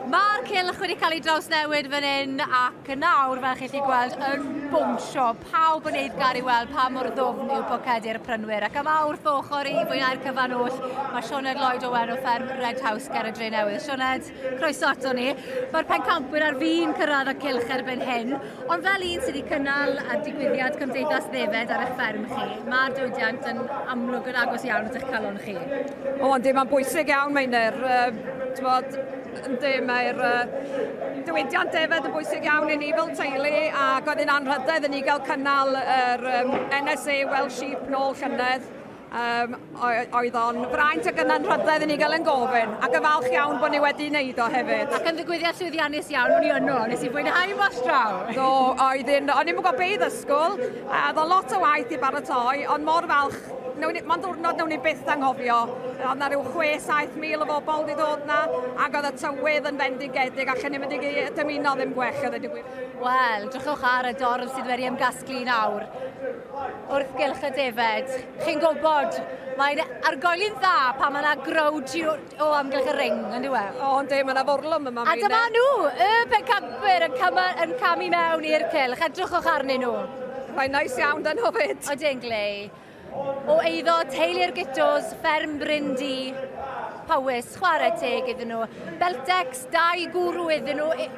Mae'r cylch wedi cael ei drawsnewid fan hyn ac nawr, fel chi'n chi gweld, yn bwnsio. Pawb yn neud gar i weld pa mor ddwfn yw pocedi'r prynwyr. Ac yma wrth ochr i fwynhau'r cyfan oll, mae Sioned Lloyd Owen o fferm Red House ger y Dre Newydd. Sioned? croeso ato ni. Mae'r pencampwyr ar fin cyrraedd y cylch erbyn hyn, ond fel un sydd wedi cynnal y digwyddiad Cymdeithas Ddefed ar eich fferm chi, mae'r diwydiant yn amlwg yn agos iawn at eich calon chi. O, yndi, mae'n bwysig iawn, mae'n er, bod, yndi, mae'r uh, diwydiant defed yn bwysig iawn i ni fel teulu, ac oedd yn anrhydedd i ni gael cynnal yr um, NSA Welsh Sheep nôl llynedd, Um, oedd o'n fraint ac yna'n rhydedd i ni gael yn gofyn, ac yn falch iawn bod ni wedi wneud o hefyd. Ac yn ddigwyddiad llwyddiannus iawn, o'n i yno, nes i fwynhau mos draw. Do, oedd un, o'n i'n gwybod be i ddysgwyl, a ddo lot o waith i baratoi, ond mor falch Mae'n ddwrnod newn ni byth anghofio. Oedd na rhyw 6-7 mil o bobl wedi dod na, ac oedd y tywydd yn fendigedig, ac yn ymwneud i dymuno ddim gwech, oedd wedi gwir. Wel, drychwch ar y dorf sydd wedi ymgasglu nawr. wrth gylch y defaid. Chi'n gwybod, mae'n argoeli'n dda pan mae yna growd o amgylch y ring, yn diwe? O, yn di, mae yna forlwm yma. A dyma nhw, y pencapwyr yn, cam, yn camu mewn i'r cylch. Edrychwch arnyn nhw. Mae'n nais iawn dan nhw fyd. O, dyn glei. O eiddo teulu'r gytos, fferm Bryn Di. Powys, chwarae teg iddyn nhw. Beltex, dau gwrw iddyn nhw.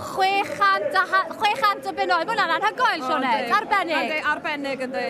600 a 600 o bunnoedd. Mae hwnna'n anhygoel, Sioned. Arbennig. Ynddi, arbennig ynddi.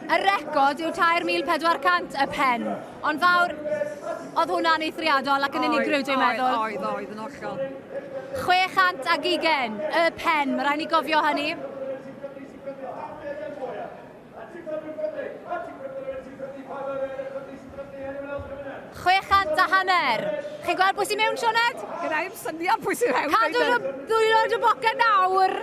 Y record yw 3,400 y pen. Ond fawr, oedd hwnna'n eithriadol ac yn unigryw, dwi'n meddwl. Oedd, oedd, yn hollol. 600 ag ugen y pen, mae rhaid ni gofio hynny. 600 a hanner. Chi'n gweld pwy sy'n mewn, Sioned? Gyda i'r syniad pwy sy'n mewn. Cadw nhw ddwy oed y boca nawr.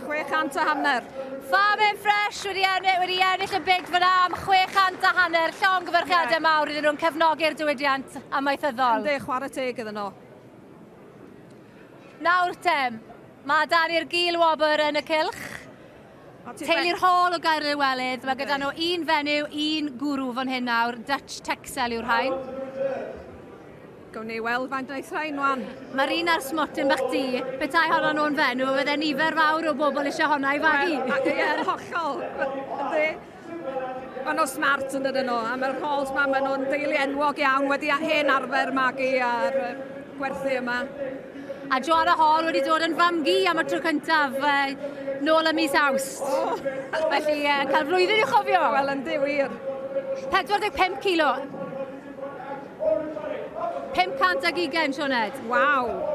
600 a hanner. Farm and Fresh wedi, ennill, wedi ennill y byd fyna am 600 a hanner. Llong gyfyrchiadau yeah. mawr iddyn nhw'n cefnogi'r diwydiant amaethyddol. Ynddi, chwarae teg iddyn nhw. Nawr te, mae Dani'r Gil Wobr yn y cylch. Teulu'r hôl o Gaerdydd y Welydd. Mae gyda nhw un fenyw, un gwrw fan hyn nawr. Dutch Texel yw'r rhain. Gawn ni weld faint aeth rhain wan. Mae'r un ar smotyn bach di. Petai honno nhw'n fenyw, fydde nifer fawr o bobl eisiau honna i fagu. Ie, yn hollol. Maen nhw'n smart yn dydyn nhw, a mae'r calls ma, maen nhw'n deulu enwog iawn, wedi a hen arfer magu ar gwerthu yma. A Joanna Hall wedi dod yn famgu am y tro cyntaf uh, nôl y mis awst. Oh. Felly, uh, cael flwyddyn i'w chofio. Wel, yn ddiwir. 45 kilo. 500 ag ugain, Sioned. Waw.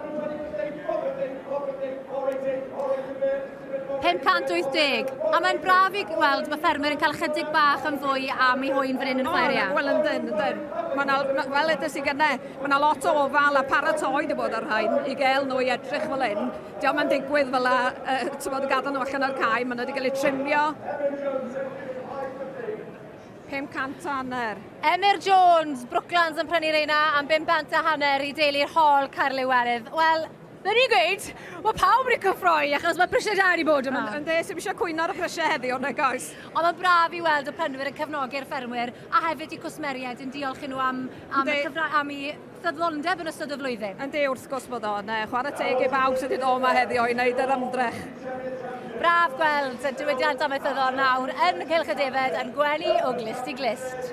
580. A mae'n braf i weld bod ffermwyr yn cael chydig bach yn fwy am ei hwyn fan hyn yn y Chwaeria. Oh, wel, yndyn, yndyn. Mae na, wel, ydys i gyda, mae yna lot o ofal a paratoi wedi bod ar rhain i gael nhw i edrych fel hyn. Diolch mae'n digwydd fel la, uh, ti'n bod, gadael nhw allan o'r cae, mae nhw wedi cael eu trimio. 500 hanner. Emyr Jones, Brooklands yn prynu reina am 500 a hanner i deulu'r hol Caerlyw Erydd. Wel, Fe ni'n gweud, mae pawb wedi cyffroi achos mae prisiau da wedi bod yma. Ynde, sdim eisiau cwyno ar y prisiau heddiw, nag oes? Ond mae'n braf i weld y prynwyr yn cefnogi'r ffermwyr a hefyd eu cwsmeriaid yn diolch i nhw am, am, y cyfra, am i ffyddlondeb yn ystod y flwyddyn. Ynde, wrth gwrs bod o'n uh, chwarae teg i bawb sydd wedi dod yma heddiw i wneud yr ymdrech. Braf gweld y diwydiant amaethyddol nawr yn y Cylch y Defed yn gwenu o glist i glist.